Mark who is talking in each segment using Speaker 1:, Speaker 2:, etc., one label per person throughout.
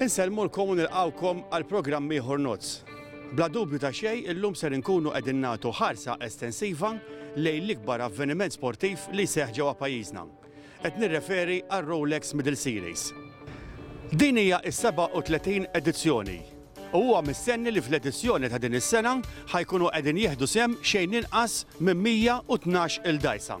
Speaker 1: Insellmulkom u nilqgħukom għal programm ieħor Nozz. Bla dubju ta' xejn illum ser inkunu qegħdin nagħtu ħarsa estensiva lejn l-ikbar avveniment sportiv li jseħħ ġewwa pajjiżna. Qed nirreferi għar-Rolex Middle Series. Din hija s-37 edizzjoni u huwa mistenni li fl-edizzjoni ta' din is-sena ħa jkunu qegħdin jieħdu sehem xejn inqas minn 112 il-dgħajsa.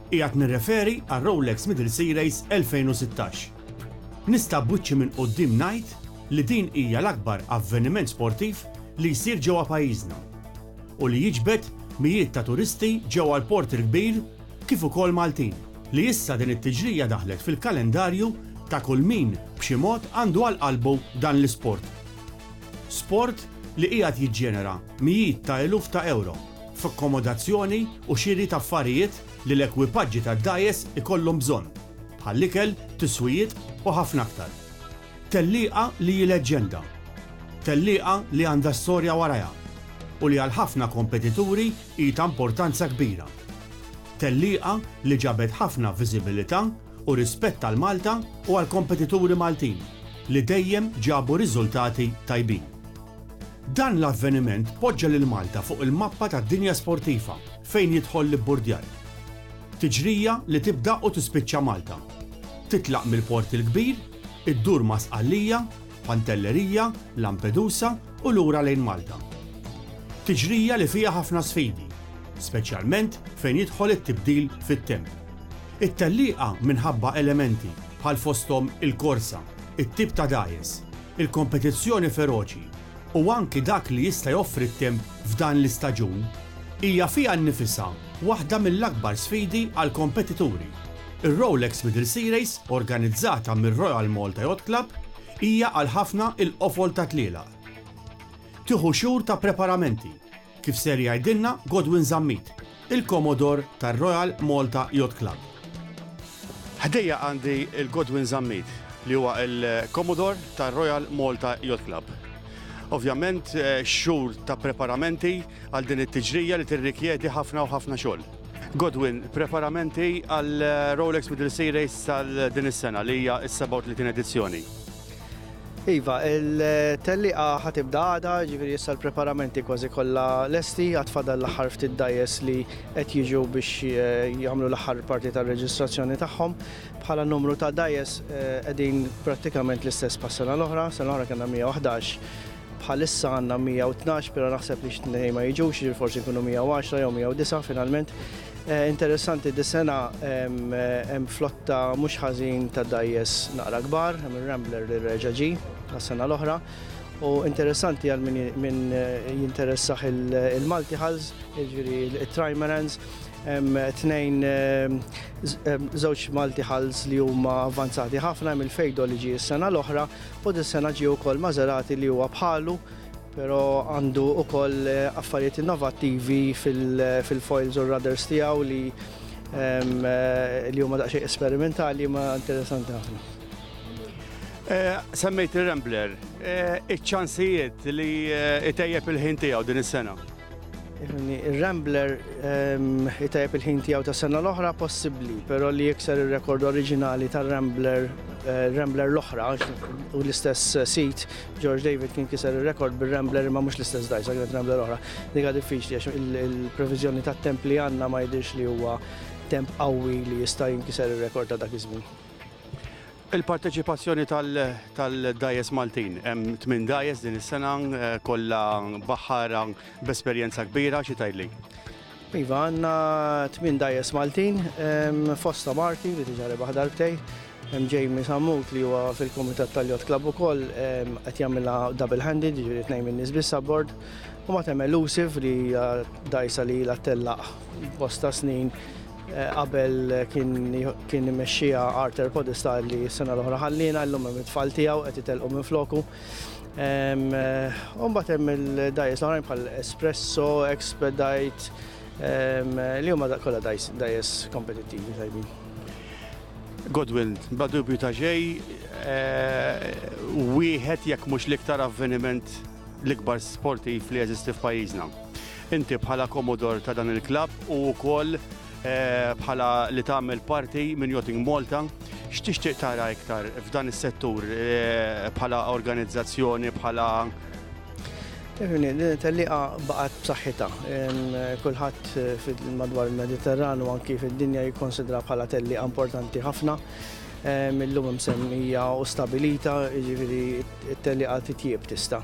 Speaker 1: Qiegħed nirreferi għar-Rolex Middle Sea Race 2016. Nista' b'wiċċi minn quddiem ngħid li din hija l-akbar avveniment sportiv li jsir ġewwa pajjiżna u li jiġbed mijiet ta' turisti ġewwa l-Port il-Kbir kif ukoll Maltin li issa din it-tiġrija daħlet fil-kalendarju ta' kull min b'xi mod għandu għal qalbu dan l-isport. Sport li qiegħed jiġġenera mijiet ta' eluf ta' ewro. f'akkomodazzjoni u xiri ta' affarijiet li l-ekwipaġġi tad-dgħajjes ikollhom bżonn, bħall-ikel, tiswijiet u ħafna aktar. Tellieqa li hi leġġenda. Tellieqa li għandha storja warajha u li għal ħafna kompetituri hi ta' importanza kbira. Tellieqa li ġabet ħafna viżibilità u rispett għal Malta u għall-kompetituri Maltin li dejjem ġabu riżultati tajbin. Dan l-avveniment poġġa lil Malta fuq il-mappa tad-dinja sportiva fejn jidħol l-ibburdjar. Tiġrija li tibda u tispiċċa Malta. Titlaq mill-Port il-Kbir, iddur ma' Sqallija, Pantelleria, Lampedusa u lura lejn Malta. Tiġrija li fiha ħafna sfidi, speċjalment fejn jidħol it-tibdil fit-temp. It-tellieqa minħabba elementi bħal fosthom il-korsa, it-tip ta' dgħajjes, Il-kompetizzjoni feroċi, u anki dak li jista' joffri t-temp f'dan l-istaġun, hija fiha nnifisha waħda mill-akbar sfidi għall-kompetituri. Ir-Rolex Middle Sea Race, organizzata mir-Royal Malta Yacht Club, hija għal ħafna il-qofol tat-tlielaq. Tieħu xhur ta' preparamenti, Kif ser jgħidilna Godwin Zammit, il-Komodor tar-Royal Malta Yacht Club. Ħdejja għandi l-Godwin Zammit li huwa l-Komodor tar-Royal Malta Yacht Club. Ovvjament xhur ta' preparamenti għal din it-tiġrija li tirrikjedi ħafna u ħafna xogħol. Godwin, preparamenti għal Rolex Middle Sea Race tal-din is-sena li hija s-37 edizzjoni. Iva, il-tellieqa ħa tibda għada, ġifieri issa l-preparamenti kważi kollha lesti, għad fadal l-aħħar ftit dajjes li qed jiġu biex eh, jagħmlu l-aħħar parti tar-reġistrazzjoni tagħhom. Bħala numru ta' dajjes eh, qegħdin prattikament l-istess pas-sena l-oħra, sena l-oħra kellna 111 bħalissa għanna 112, pero naħseb li xtnej ma jiġux, forsi kunu 110 jew 109 finalment. Interessanti dis-sena hemm flotta mhux ħażin ta' dgħajjes naqra kbar, hemm ir-Rambler li reġa' ġie għas-sena l-oħra. U interessanti għal min jinteressah il-Multihalls, jiġifieri t-Trimarans, hemm tnejn żewġ Multihalls li huma avvanzati ħafna, hemm il-Feydol li ġie s-sena l-oħra u dis-sena ġie wkoll Maserati li huwa bħalu, Però għandu ukoll affarijiet innovattivi fil-foils u r-rudders tiegħu li li huma daqsxejn esperimentali ma interessanti ħafna. Eh, semmejt il-Rambler, eh, iċ-ċansijiet li eh, itejjeb il-ħin tiegħu din is-sena. Ir-Rambler itejjeb il-ħin tiegħu ta' sena l-oħra possibbli, però li jikser ir-rekord oriġinali tar-Rambler Rambler l-oħra u l-istess sit George David kien kiser ir-rekord bir-Rambler imma mhux l-istess dajsa kienet Rambler oħra. Diga diffiċli għax il-previżjoni tat-temp li għandna ma jidhirx li huwa temp qawwi li jista' jinkiser ir-rekord ta' dak iż-żmien. Il-parteċipazzjoni tal-dgħajjes Maltin. Hemm tmien dgħajjes din is-sena, kollha baħħara b'esperjenza kbira, xi tgħidli? Iva, għandna tmien dgħajjes Maltin, fosthom Arti li diġà rebaħ darbtejn, hemm Jamie Sammut li huwa fil-kumitat tal-Yacht Club ukoll qed jagħmilha double handed, jiġifieri tnejn min-nies biss abbord, u mbagħad hemm Elusive li hija dgħajsa li ilha ttellaq bosta snin Qabel kien imexxija Arthur Podesta li s-sena l-oħra ħallina, llum hemm it-tfal tiegħu qed itelqu minn floku. Umbagħad hemm il-dajjes l-oħrajn bħal Espresso, Expedite, li huma kollha dajjes kompetittivi tajbin. Godwin, bla dubju ta' xej, wieħed jekk mhux l-iktar avveniment l-ikbar sportiv li jeżisti f'pajjiżna. Inti bħala komodor ta' dan il-klabb u wkoll bħala li tagħmel parti minn Yachting Malta, x'tixtieq tara iktar f'dan is-settur bħala organizzazzjoni, bħala Tafni, din it-tellieqa baqgħet b'saħħitha. Kulħadd madwar il-Mediterran u anki fid-dinja jikkonsidra bħala tellieqa importanti ħafna. Illum msemmija u stabilita, jiġifieri t-tellieqa titjieb tista'.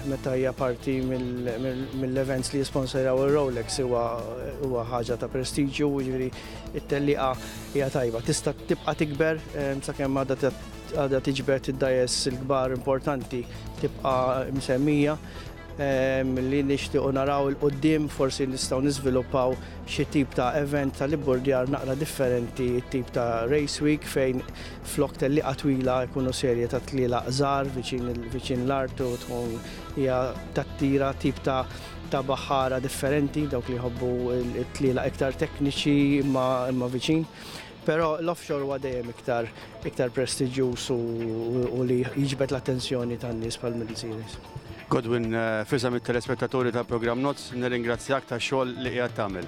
Speaker 1: Meta hija parti mill-events li jisponsorjaw ir-Rolex huwa ħaġa ta' prestiġju, jiġri it-telliqa hija tajba. Tista' tibqa' tikber sakemm għadha tiġbed id-dajes il-kbar importanti tibqa' msemmija li nixtiequ naraw il-qudiem forsi nistgħu niżviluppaw xi tip ta' event tal-ibburdjar naqra differenti, tip ta' race week fejn Flok tellieqa twila jkunu serje ta' tlielaq żgħar viċin l-art u tkun hija tattira tip ta' baħħara differenti, dawk li jħobbu t-tlielaq iktar tekniċi imma viċin. Però l-offshore huwa dejjem iktar prestiġjuż u li jiġbed l-attenzjoni tan-nies bħal Middle Series. Godwin, f'isem it-telespettaturi tal-programm Nozz, nirringrazzjak tax-xogħol li qiegħed tagħmel.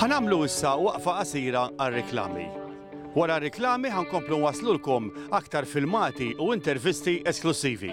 Speaker 1: Ħanamlu issa waqfa qasira għal-reklami. Wara reklami ħankomplu waslulkom aktar filmati u intervisti esklusivi.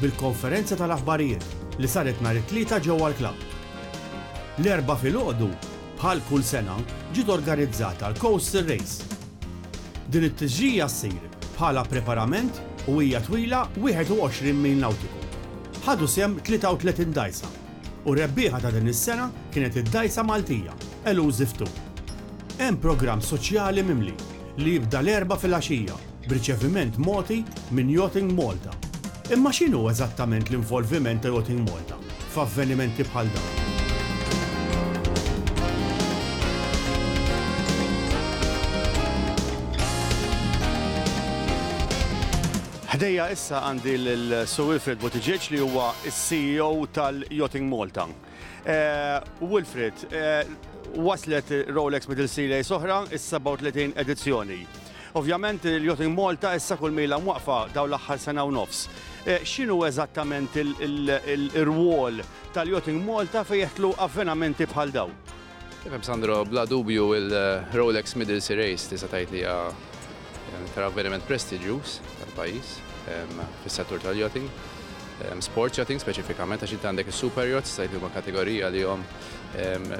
Speaker 1: bil-konferenza tal-aħbarijiet li saret nhar it-Tlieta ġewwa l-Klabb. L-Erbgħa filgħodu, bħal kull sena, ġiet organizzata l-Coastal Race. Din it-tixjigħa ssir bħala preparament u hija twila 21 mil nawtiku. Ħadu sehem 33 dgħajsa U r-rebbieħa ta' din is-sena kienet id-dgħajsa Maltija, Elusive Two. Hemm programm soċjali mimli li jibda l-Erbgħa filgħaxija b'riċeviment mogħti minn Yachting Malta. Imma x'inhu eżattament l-involviment ta' Yachting Malta f'avvenimenti bħal dawn? Ħdejja issa għandi lil Sir Wilfred Buttigieg li huwa s-CEO tal-Yachting Malta. Wilfred, waslet Rolex Middle Sea Lace oħra, is-37 edizzjoni. Ovvjament il-Yachting Malta issa kull mejlha mwaqqfa dawn l-aħħar sena u nofs. X'inhu eżattament ir-rwol tal-Yachting Malta fejn jidħlu avvenamenti bħal dawn? Tifhem Sandro, bla dubju il-Rolex Middle Sea Race tista' tgħid li hija tal avveniment prestiġjuż tal-pajjiż fis-settur tal-yachting. Sports yachting speċifikament għax inti għandek is-super yachts tgħid li huma kategorija li hom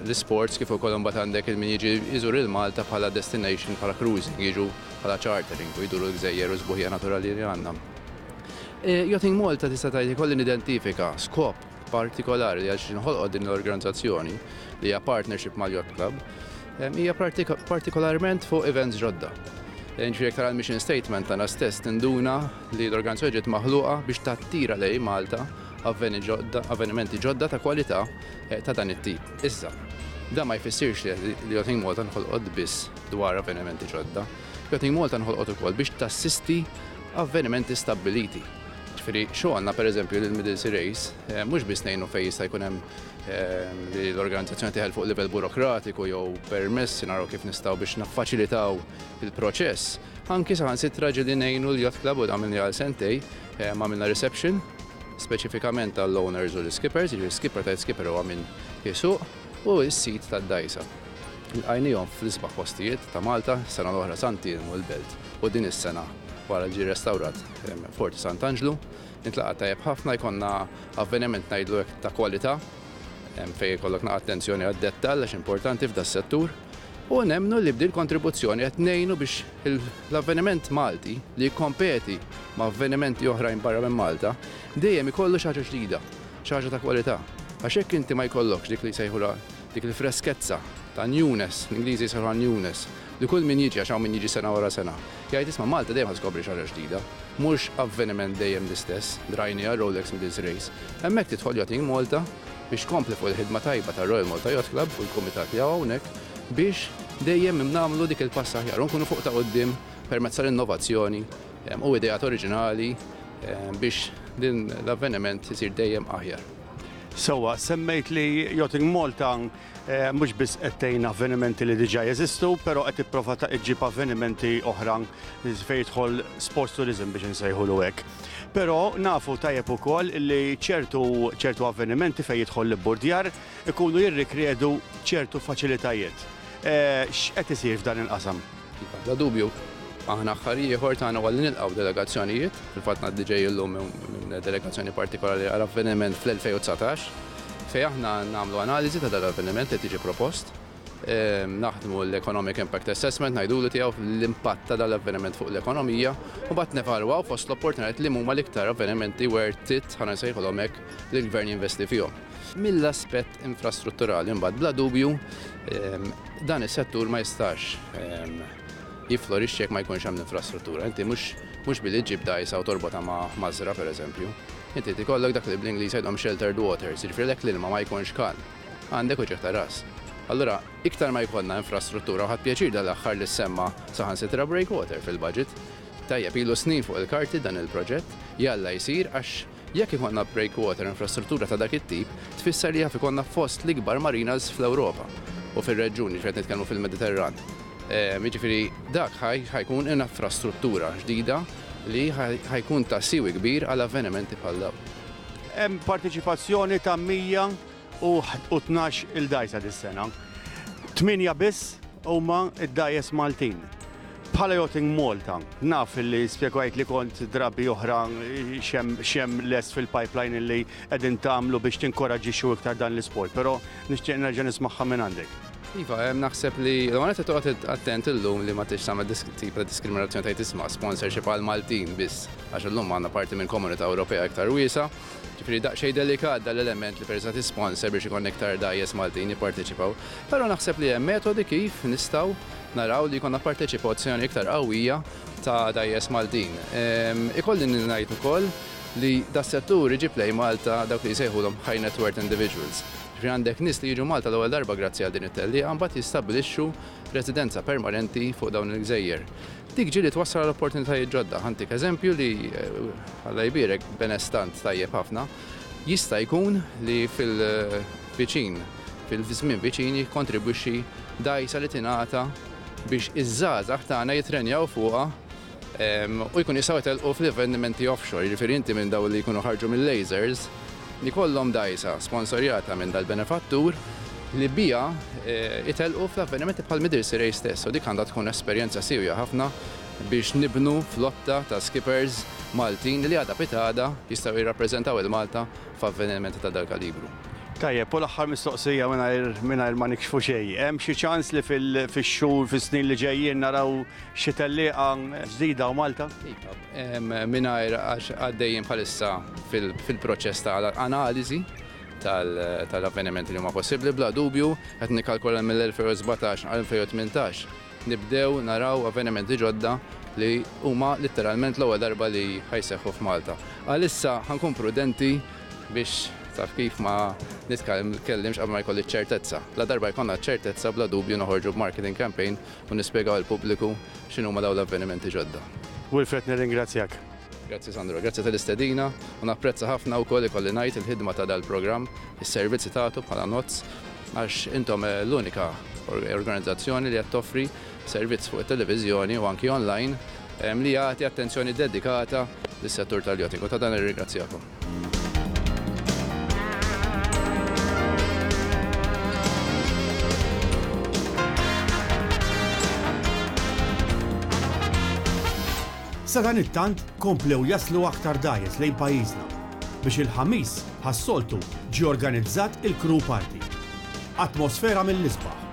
Speaker 1: l-isports kif ukoll imbagħad għandek il-min jiġi jżur il-Malta bħala destination bħala cruising, jiġu bħala chartering u jduru l-gżejjer u s-sbuħija naturali li għandna. Yachting Malta tista' tgħid ikolli nidentifika skop partikolari li għaliex inħolqot din l-organizzazzjoni li hija partnership mal-Yacht Club hija partikolarment fuq events ġodda. Ġifieri aktar għal mission statement tagħna stess tinduna li l-organizzazzjoni ġiet maħluqa biex tattira lejn Malta avvenimenti ġodda ta' kwalità eh, ta' dan it-tip. Issa, dan ma jfissirx li Yachting Malta nħolqot biss dwar avvenimenti ġodda. Yachting Malta nħolqot ukoll biex tassisti avvenimenti stabbiliti Jiġifieri xogħolna pereżempju lill-Middle Sirejs mhux biss ngħinu fejn jista' jkun hemm li l-organizzazzjoni teħel fuq livell burokratiku jew permessi naraw kif nistgħu biex niffaċilitaw il-proċess, anki saħansitra ġieli ngħinu l-Yacht Club u dan għamilnieh għal sentejn, għamilna reception speċifikament għall-owners u l-iskippers, jiġifieri skipper tgħid skipper huwa min isuq, u s-sid tad-dgħajsa. Lqajniehom fl-isbaħ postijiet ta' Malta, sena l-oħra Sant'Ilmu l-Belt u din is-sena wara li ġie restawrat Forti Sant'Anġlu. Nitlaqa' tajjeb ħafna, jkollna avveniment ngħidlu hekk ta' kwalità fejn ikollok naqgħa attenzjoni għad-dettall għax importanti f'da settur. U nemmnu li b'din kontribuzzjoni qed ngħinu biex l-avveniment Malti li jikkompeti ma' avvenimenti oħrajn barra minn Malta dejjem ikollu xi ħaġa ġdida, xi ħaġa ta' kwalità. Għax jekk inti ma jkollokx dik li jsejħulha dik il-freskezza ta' newness, l-Ingliżi jsejħulha newness, li kull min jiġi għax hawn min jiġi sena wara sena, Jgħid isma' Malta dejjem ħa tkopri xi ħaġa ġdida. Mhux avveniment dejjem l-istess, drajnieha Rolex Middles Race. Hemmhekk tidħol Yachting Malta biex tkompli fuq il-ħidma tajba tar-Royal Malta Yacht Club u l-kumitat li hawn hawnhekk biex dejjem nagħmlu dik il-pass aħjar u nkunu fuq ta' quddiem permezz tal-innovazzjoni u ideat oriġinali biex din l-avveniment isir dejjem aħjar. Sewwa, semmejt li Yachting Malta Mhux biss qed tgħin avvenimenti li diġà jeżistu, però qed tipprova ta' iġġib avvenimenti oħra fejn jidħol sports tourism biex insejħulu hekk. Però nafu tajjeb ukoll li ċertu ċertu avvenimenti fejn jidħol l-ibburdjar ikunu jirrikredu ċertu faċilitajiet. X'qed isir f'dan il-qasam? Bla dubju, aħna aħħar ieħor tagħna huwa li nilqgħu delegazzjonijiet. Fil-fatt ngħaddi ġej illum minn delegazzjoni partikolari għal avveniment fl-2019 fejn aħna nagħmlu analiżi ta' dan l-avveniment li qed jiġi propost, naħdmu l-economic impact assessment ngħidulu tiegħu l-impatt ta' dan l-avveniment fuq l-ekonomija u mbagħad nevalwaw fost l-opportunitajiet li huma l-iktar avvenimenti worth it, ħa nsejħulhom hekk, li l-Gvern jinvesti fihom. Mill-aspett infrastrutturali mbagħad bla dubju, Dan is-settur ma jistax jifflorixxi jekk ma jkunx hemm l-infrastruttura. Inti mhux billi ġġib dgħajsa u torbotha ma' mażra pereżempju. Inti trid ikollok dak li bl-Ingliż jgħidhom sheltered waters, jiġifieri lek l-ilma ma jkunx kalm. Għandek uċigħ ta' ras. Allura, iktar ma jkollna infrastruttura u ħadt pjaċir dal-aħħar li ssemma saħansitra breakwater fil-budget. Tajjeb, ilu snin fuq il-karti dan il-proġett, jalla jsir għax Jekk ikollna breakwater infrastruttura ta' dak it-tip, tfisser li jaf ikollna fost l-ikbar marinas fl-Ewropa u fir-reġjun, jiġifieri qed nitkellmu fil-Mediterran. Jiġifieri dak ħa jkun inafrastruttura ġdida li ħa jkun ta' siwi kbir għal avvenimenti bħal dawn. Hemm parteċipazzjoni ta' 100 u tnax il dgħajsa dis-sena. Tmienja biss huma d-dgħajjes Maltin. Bħala Yachting Malta, naf li spjegajt li kont drabi oħra xem les fil-pipeline li qegħdin tagħmlu biex tinkoraġġixxu iktar dan l-isport, però nixtieq nerġa' nismagħha minn għandek. Iva, naħseb li l-għonet li toqgħod attent illum li ma tix tagħmel tip ta' diskriminazzjoni tajt isma' sponsorship għal Maltin biss, għax illum għandna parti minn komunità Ewropea iktar wiesa, Ġifieri daqsxejn delikat dan l-element li peress qed issponsor biex ikollna iktar dgħajjes Maltin jipparteċipaw. Però naħseb li hemm metodi kif nistgħu naraw li jkollna parteċipazzjoni iktar qawwija ta' dgħajjes Maltin. Ikolli ngħid ukoll li das-settur iġib lejn Malta dawk li jsejħulhom high net worth individuals. Ġifieri għandek nies li jiġu Malta l-ewwel darba grazzi għal din it-tellieqa mbagħad jistabbilixxu residenza permanenti fuq dawn il-gżejjer. Dik ġieli twassal għal opportunitajiet ġodda. Ħantik eżempju li, Alla jbierek, benestant tajjeb ħafna jista' jkun li fil-viċin, fil-żmien viċin jikkontribwixxi dgħajsa li tingħata biex iż-żgħażagħ tagħna jittrenjaw fuqha u jkunu jistgħu jtellqu fl-avvenimenti offshore. Jiġifieri inti minn dawn li jkunu ħarġu mil-lasers, jkollhom dgħajsa sponsorjata minn dal-benefattur li biha jtellqu fl-avvenimenti bħall-Midilsi Race stess u dik għandha tkun esperjenza siewja ħafna biex nibnu flotta ta' skippers Maltin li għada pitgħada jistgħu jirrappreżentaw il-Malta f'avvenimenti ta' dal-kalibru. Tajjeb, u l-aħħar mistoqsija mingħajr ma nikxfu xejn. Hemm xi ċans li fix-xhur, fis-snin li ġejjin naraw xi tellieqa ġdida u Malta? mingħajr għax għaddejjin bħalissa fil-proċess ta' analiżi tal-avvenimenti li huma possibbli. Bla dubju, qed nikkalkula li mill-2017 għal 2018 nibdew naraw avvenimenti ġodda li huma litteralment l-ewwel darba li ħa jseħħu f'Malta. Għalissa ħa nkun prudenti biex, taf kif, ma nitkellimx qabel ma jkolli ċ-ċertezza. Ladarba jkollna ċ-ċertezza, bla dubju noħorġu b'marketing campaign u nispjegaw lill-pubbliku x'inhuma dawn l-avvenimenti ġodda. Wilfred nirringrazzjak. Grazzi Sandro, grazzi tal-istedina u napprezza ħafna wkoll ikolli ngħid il-ħidma ta' dal-programm, is-servizz li tagħtu bħala NOTS għax intom l-unika organizzazzjoni li qed toffri servizz fuq it-televiżjoni u anki online li jagħti attenzjoni dedikata lis-settur tal-yachting u ta' dan nirringrazzjakom. Sadanittant komplew jaslu aktar dgħajjes lejn pajjiżna biex il-Ħamis bħas-soltu ġie organizzat il-Crew Party. Atmosfera mill-isbaħ.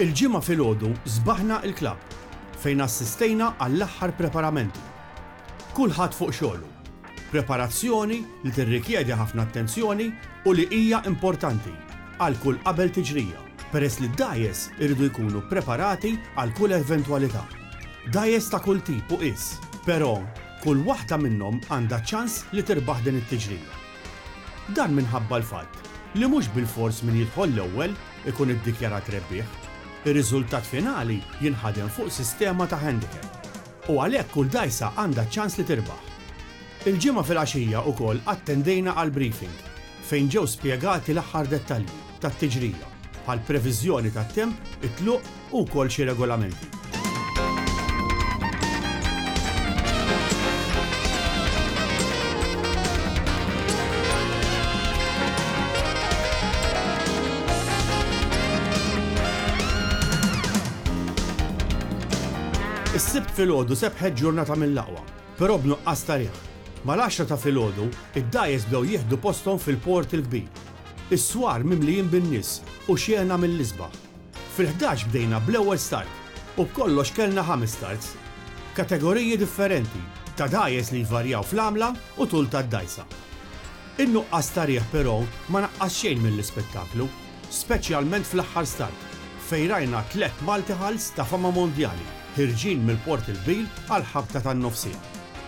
Speaker 1: Il-Ġimgħa filgħodu sbaħna il-klabb fejn assistejna għall-aħħar preparamenti. Kulħadd fuq xogħlu. Preparazzjoni li tirrikjedi ħafna attenzjoni u li hija importanti għal kull qabel tiġrija peress li d-dgħajjes iridu jkunu preparati għal kull eventwalità. Dgħajjes ta' kull tip u qies, però, Kull waħda minnhom għandha ċans li tirbaħ din it-tiġrija. Dan minħabba l-fatt li mhux bilfors min jidħol l-ewwel ikun iddikjarat rebbieħ. Ir-riżultat finali jinħadem fuq sistema ta' handicap u għalhekk kull dgħajsa għandha ċans li tirbaħ. Il-Ġimgħa filgħaxija wkoll attendejna għall-briefing fejn ġew spjegati l-aħħar dettalji. tat-tiġrija, bħall-previżjoni tat-temp, it-tluq u wkoll xi regolamenti. Is-Sibt filgħodu sebħet ġurnata mill-aqwa, però b'nuqqas ta' riħ. Mal-għaxra ta' filgħodu, id-dgħajjes bdew jieħdu posthom fil-Port il-Kbir Is-swar mimlijin bin-nies u xjena mill-isbaħ. Fil-ħdax bdejna bl-ewwel start u b'kollox kellna ħames starts. Kategoriji differenti, ta' dgħajjes li jvarjaw fl-għamla u tul tad-dgħajsa. In-nuqqas ta' riħ però ma naqqas xejn mill-ispettaklu, speċjalment fl-aħħar start fejn rajna tliet multihulls ta' fama mondjali ħirġin mill-Port il-Kbir għall-ħabta tan-nofsija.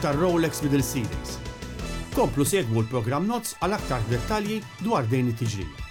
Speaker 1: tar-Rolex Middle Series. Komplu segwu l-programm Nozz għal aktar dettalji dwar dejn it-tiġrija.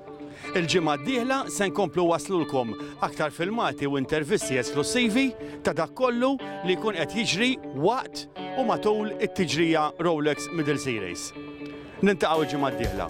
Speaker 1: Il-ġimgħa d-dieħla se nkomplu waslulkom aktar filmati u intervisti esklussivi ta' dak kollu li jkun qed jiġri waqt u matul it-tiġrija Rolex Middle Sea Race. Niltaqgħu l-ġimgħa d-dieħla.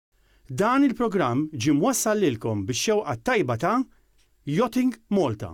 Speaker 1: Dan il-programm ġie mwassal lilkom bix-xewqa t-tajba ta' Yachting Malta.